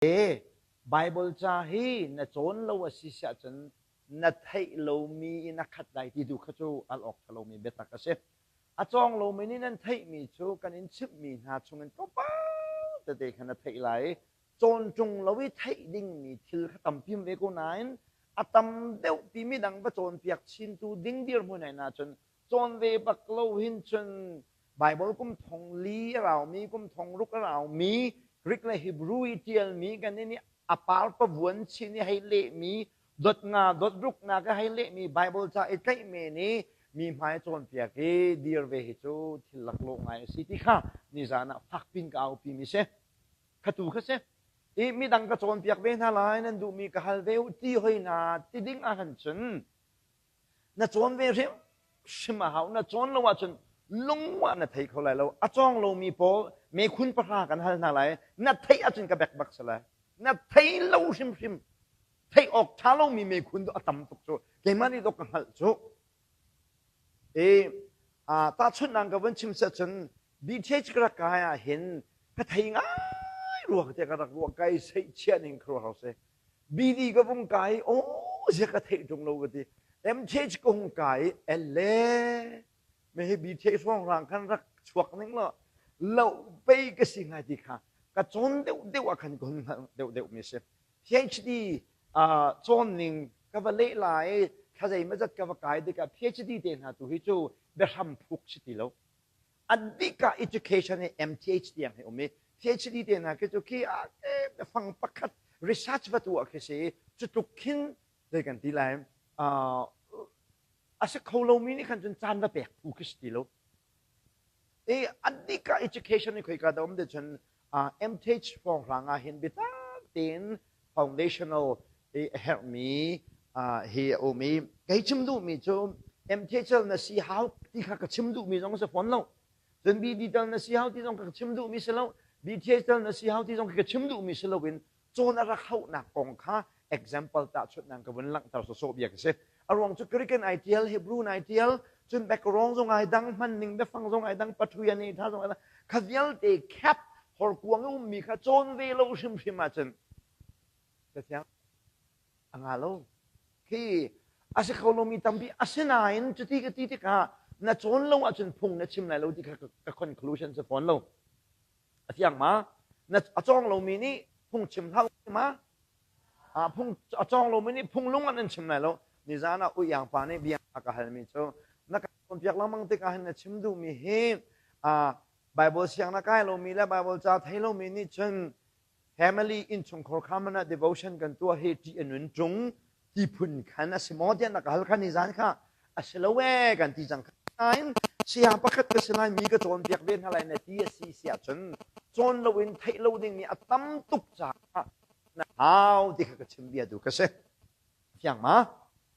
Baibal ca hi na cawn lo a si si ahcun na theih lomi i na khat lai ti tu kha cu al awk ṭha lomi biatak a si. A cawng lomi nih nan theihmi cu kan in chimhmi hna chungin tlawmpal tete kha na theih lai i cawn ṭung lo i theih dingmi thil kha tampiam ve ko nain a tam deuhpi midang va cawnpiak chintu ding dirhmun ai nahcun Cawn ve bak lo hin cun Baibal kum thong li a raumi, kum thong ruk a raumi, Greek le Hebrew i ṭialmi kan i nih a par pavuan chin i hei lehmi, dot nga dot ruknak i hei lehmi Baibal ca i tlaih men i mi hmai cawnpiak i dir ve hi cu thil laklawh ngai a si ti kha nizan ah fakpin ka aupimi si. Khatu kha si. I midang ka cawnpiak ve hna lai nan duhmi ka hal ve u ti hoi na ti ding ahcun cun Na cawn ve hrimhrim a hau. Na cawn lo ahcun lungah na thei kho lai lo. A cawng lomi pawl mekhun pahra kan hal hna lai. Na theih ahcun ka bekbak si lai. Na thei lo hrimhrim. Theih awk ṭha lomi mekhun a tam tuk cu. Keimah nih dok ka hngalh cu. E, tahchunhnak ka van chim set cun BTH ka rak kai ah hin ka thei ngai rua tiah ka rak ruah. Kai seih chiah ning kha ruah hau seh. BD ka vung kai aw ziah ka theih ṭung lo ka ti MTH kong kai el le mehi BTH hrawnghrang khan rak chuak ning law lo pei ka si hngai ti kha ka cawn deuh deuh ah khan ka hun hngalh deuh deuh mi si PhD cawnning ka va leh lai thla zeimazat ka va kai dikah PhD te hna tu hi cu biahram phuk si ti lo an bik ah education hi MTH tiang hi um i PhD te hna khi cu khi fang pakhat research va tu ah khi si cu tluk khin dei kan ti lai a si kho lomi nih khan cun caan va pek phu khi si ti lo i an bik ah education hi khoi ka da um de cun MTH pawnghrang ah hin biatak tein foundational hi a herhmi hi a um i kei chim duhmi cu MTH na si hau ti kha ka chim duhmi zong si fawn lo cun BD tal na si hau ti zong ka chim duhmi si lo BTH tal na si hau ti zong ka chim duhmi si loin Cun a rak hlohnak kong kha example tahchunhnak ka vun langhter sawsawh bia ka si. A ruang cu Greeken ai ṭial, Hebrew ai ṭial, cun background zong ai dang, hmanning biafang zong ai dang, paṭhui a nehtha zong ai dang. Kha vialte cap horkuang i ummi kha cawn ve lo hrimhrim ahcun Cathiang a nga lo. Khi a si kho lomi tampi, asinain cuti ka ti tikah na cawn lo ahcun phung na chim lai lo ti kha ka conclusion si fawn lo. a fiang ma na a cawng lomi nih phung chim hlah ma phung a cawng lomi nih phung lung an chim lai lo nizan ah uyang pa nih bia a ka halmi cu na ka cawnpiak lengmang tikah hin na chim duhmi hi Baibal siang na kai lomi le Baibal ca thei lomi nih cun family innchungkhar kha man ah devotion kan tuah hi ṭih a nun ṭung ti phun khan a si maw tiah na ka hal khan nizan kha a si lo ee kan ti cang nain saya pakhat ka si lai mi ka cawnpiak ve hna lai na ti a si si ahcun cawn lo in theih lo ding mi a tam tuk caah na hau ti kha ka chim bia tu ka si fiang ma